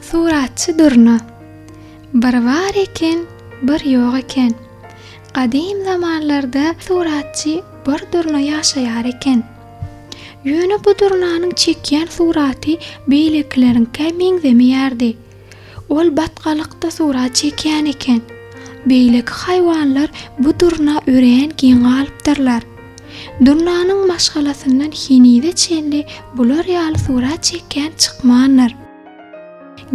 Suratçy Durna. Bir bar eken, bir ýok eken. Gadym zamanlarda suratçy bir durna ýaşaýar eken. Ýöne bu durnanyň çekýän suraty beýlekileriňkä meňzemeýärdi. Ol batgalykda surat çekýän eken. Beýleki haýwanlar bu durna örän geň galypdyrlar. Durnanyň maşgalasyndan henize çenli bular ýaly surat çekýän çykmandyr.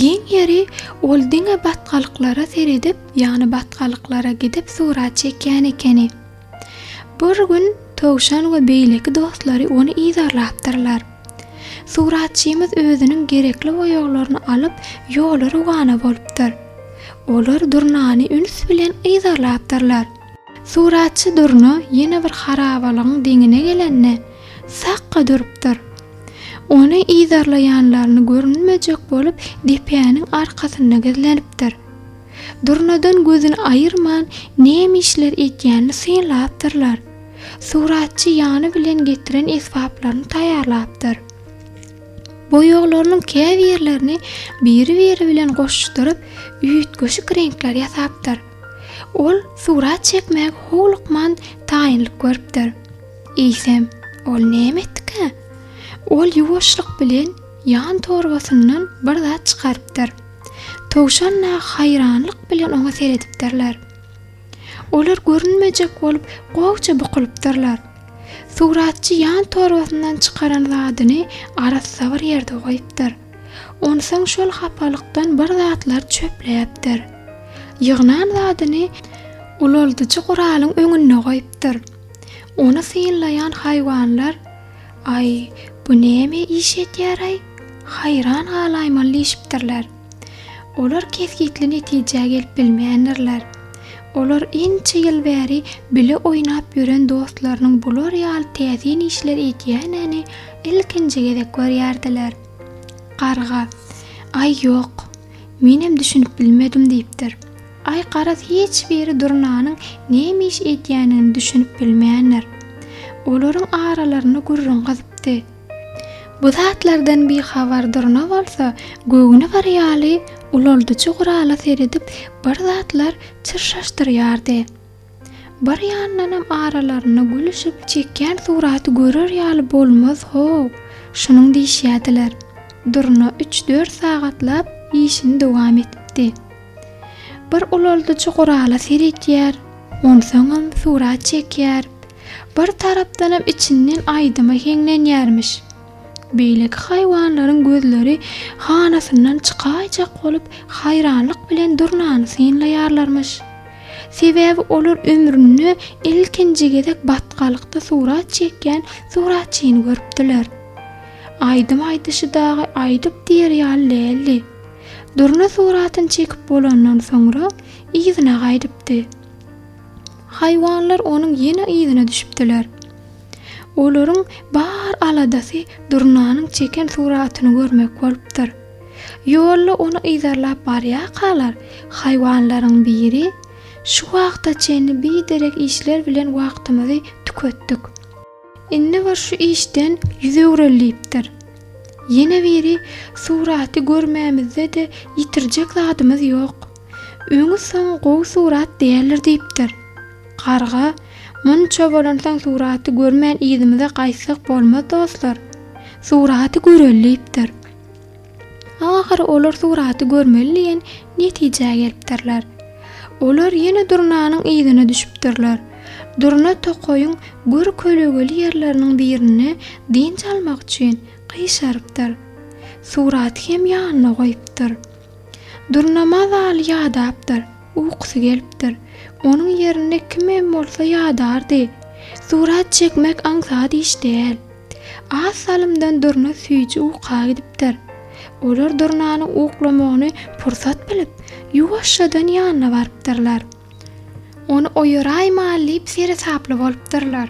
Geň ýeri, ol diňe batgalyklara seredip, ýagny batgalyklara gidip surat çekýän ekeni. Bir gün towşan we beýleki dostlary ony yzarlapdyrlar. Suratçymyz özüniň gerekli boýaglaryny alyp, ýola rowana bolupdyr. Olar durnany üns bilen yzarlapdyrlar. Suratçy durna ýene bir harabalygyň deňine gelende, sakga durupdyr. Ony yzarlaýanlaryny görünmejek bolup depäniň arkasynda gizlenipdir. Durnadan gözüni aýyrman, näme işler edýänini synlapdyrlar. Suratçy ýany bilen getiren esbaplaryny taýýarlapdyr. Boýaglarynyň käbirlerini biri-biri bilen goşuşdyryp, üýtgeşik reňkler ýasapdyr. Ol surat çekmäge howlukman taýynlyk görüpdir. Eýsem, ol näme etdikä? Ol ýuwaşlyk bilen ýan torbasyndan bir zat çykarypdyr. Towşan nahy haýranlyk bilen oňa seredipdirler. Olar görünmejek bolup gowja bukulypdyrlar. Suratçy ýan torbasyndan çykaran zadyny arassa bir ýerde goýupdyr. Onsoň şol hapalykdan bir zatlar çöpläpdir. Ýygnan zadyny ulaldyjy guralyň öňünde goýupdyr. Ony synlaýan haýwanlar, Aý, bu näme iş edýär-aý? Haýran galaýmaly diýşipdirler. Olar kesgitli netijä gelip bilmändirler. Olar ençe ýyl bäri bile oýnap ýören dostlarynyň bular ýaly täsin işler edýänini ilkinji gezek görýärdiler. Garga, Aý, ýok. Menem düşünip bilmedim diýipdir. Aý, garaz, hiç biri durnanyň näme iş edýänini düşünip bilmändir. Olaryň aralarynda gürrüň gyzypdy. Bu zatlardan bihabar durna bolsa, göwni bir ýaly, ulaldyjy gurala seredip, bir zatlar çyrşaşdyrýardy. Bir ýandanam aralarynda gülüşip, çekýän suraty görer ýaly bolmaz-how, şunuň diýişýärdiler. Durna üç-dört sagatlap işini dowam edipdi. Bir ulaldyjy gurala seredýär, onsoňam surat çekýär. Bir tarapdanam içinden aýdyma heňlenýärmiş. Beýleki haýwanlaryň gözleri hanasyndan çykaýjak bolup, haýranlyk bilen durnany synlaýarlarmyş. Sebäbi olar ömründe ilkinji gezek batgalykda surat çekýän suratçyny görüpdiler. Aýdym aýdyşy dagy aýdyp diýer ýaly däldi. Durna suratyny çekip bolandan soňra, yzyna gaýdypdy. Haýwanlar onuň ýene yzyna düşüpdiler. Olaryň bar aladasy durnanyň çeken suratyny görmek bolupdyr. Ýolda ony yzarlap barýarkalar, haýwanlaryň biri, Şu wagta çenli biderek işler bilen wagtymyzy tüketdik. Indi bir şu işden ýüz öwrülipdir. Ýene biri suraty görmämizde-de ýitirjek zadymyz ýok. Öňi-soň gowy surat däldir diýipdir. Garga, Munça bolansoň suraty görmän yzymyza gaýtsak bolmaz dostlar. Suraty göreli diýipdir. Ahyry olar suraty görmeli diýen netijä gelipdirler. Olar ýene Durnanyň yzyna düşüpdirler. Durna tokaýyň gür kölegeli ýerleriniň birinde dynç almak üçin gyşarypdyr. Suraty hem ýanyna goýupdyr. Durna mazaly ýadapdyr, ukusy gelipdir. Onuň ýerinde kimem bolsa ýadardy. Surat çekmek aňsat iş däl. Az salymdan durna süýji uka gidipdir. Olar durnanyň uklamagyny pursat bilip, ýuwaşjadan ýanyna barypdyrlar. Ony oýaraýmaly diýip seresaply bolupdyrlar.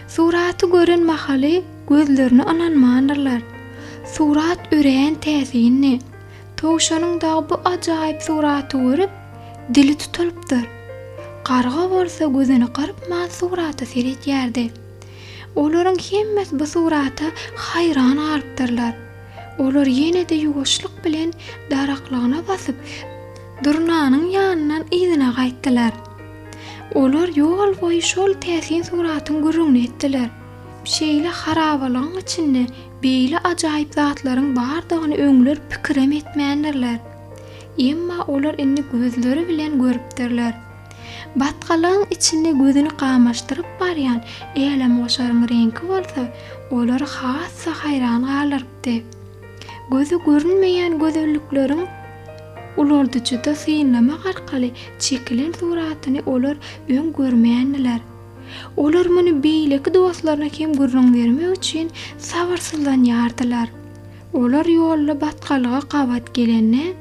Suraty gören mahaly gözlerine ynanmandyrlar. Surat örän täsinli. Towşanyň dagy bu ajaýyp suraty görüp, dili tutulypdyr. Garga bolsa gözüni gyrpman surata seredýärdi. Olaryň hemmesi bu surata haýran galypdyrlar. Olar ýene-de ýuwaşlyk bilen daraklygyna basyp, Durnanyň ýanyndan yzyna gaýtdylar. Olar ýol boýy şol täsin suratyň gürrüňini etdiler. Şeýle harabalygyň içinde beýle ajaýyp zatlaryň bardygyny öňler pikirem etmändirler. Emma olar indi gözleri bilen görüpdirler. Batgalygyň içinde gözüni gamaşdyryp barýan älemgoşaryň reňki bolsa olary has-da haýran galdyrypdy. Göze görünmeýän gözellikleriň ulaldyjyda synlamak arkaly çekilen suratyny olar öň görmändiler. Olar muny beýleki dostlaryna hem gürrüň bermek üçin sabyrsyzlanýardylar. Olar ýolda batgalyga gabat gelende.